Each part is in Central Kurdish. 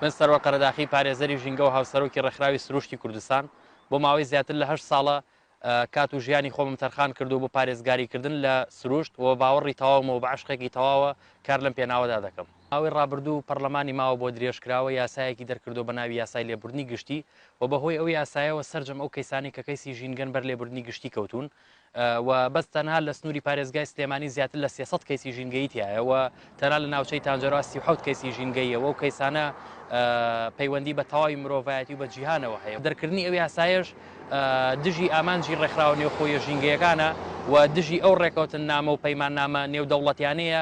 من سەروەر قەرەداخی پارێزەری ژینگە و هاوسەرۆکی ڕێکخراوی سروشتی کوردستان بۆ ماوەی زیاتر لە هەشت ساڵە کات و ژیانی خۆمم تەرخان کردو بۆ پارێزگاریکردن لە سروشت و باوەڕی تەواومەوە بە عشقێکی تەواوە کار لەم پێناوەدا دەکەم ماوەی ڕابردوو پەڕلەمانی ماوە بۆ درێژکراوە یاسایەکی دەرکردووە بە ناوی یاسای لێبوردنی گشتی و بە هۆی ئەو یاسایەوە سەرجەم ئەو کەیسانەی کە کەیسی ژینگەن بەر لێبوردنی گشتی کەوتوون و بەس تەنها لە سنووری پارێزگای سلێمانی زیاتر لە سێ سەد کەیسی ژینگەیی تیایە و تەنها لە ناوچەی تانجەروا سی و حەوت کەیسی ژینگەییە و ئەو کەیسانە پەیوەندی بە تەواوی مرۆڤایەتی و بە جیهانەوە هەیە دەرکردنی ئەو یاسایەش دژی ئامانجی ڕێکخراوە نێوخۆییە ژینگەیەکانە و دژی ئەو ڕێکەوتننامە و پەیماننامە نێودەوڵەتیانەیە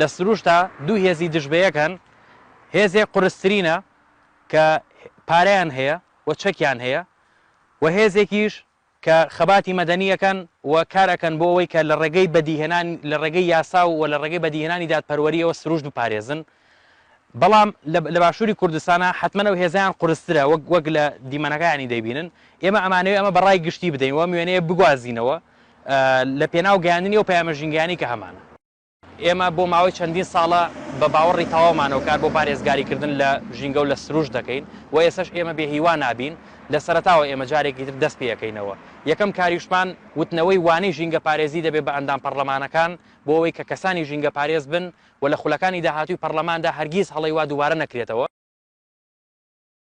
لە سروشتا دوو هێزی دژ بە یەک هەن هێزێ قرسترینە کە پارەیان هەیە و چەکیان هەیە و هێزێکیش کە خەباتی مەدەنی ئەکەن و کار ئەکەن بۆ ئەوەی کە لە ڕێگەی بەدیهێنان لە ڕێگەی یاسا و لە ڕێگەی بەدیهێنانی دادپەروەریەوە سروشت بپارێزن بەڵام لە باشووری کوردستانە حتمما ئەو هێزیان قورسترە وەک وەک لە دیمەنەکانی دەبینن ئێمە ئەمانەوێ ئەمە بەڕای گشتی بدەین و ئەم وێنەیە بگوازینەوە لە پێناو گەیاندنی ئەو پەیامە ژینگەیانی کە هەمانە. ئێمە بۆ ماوەی چەندین ساڵە بە باوەڕی تەواومانەوە کار بۆ پارێزگاریکردن لە ژینگە و لە سروشت دەکەین و ئێسەش ئێمە بێ هیوا نابین، لە سەرەتاوە ئێمە جارێکی تر دەست پێەکەینەوە. یەکەم کاریشمان وتنەوەی وانەی ژینگەپارێزی دەبێت بە ئەندام پەڕلەمانەکان بۆ ئەوەی کە کەسانی ژینگەپارێز بن و لە خولەکانی داهاتووی پەڕلەماندا هەرگیز هەڵەی وا دووبارە نەکرێتەوە.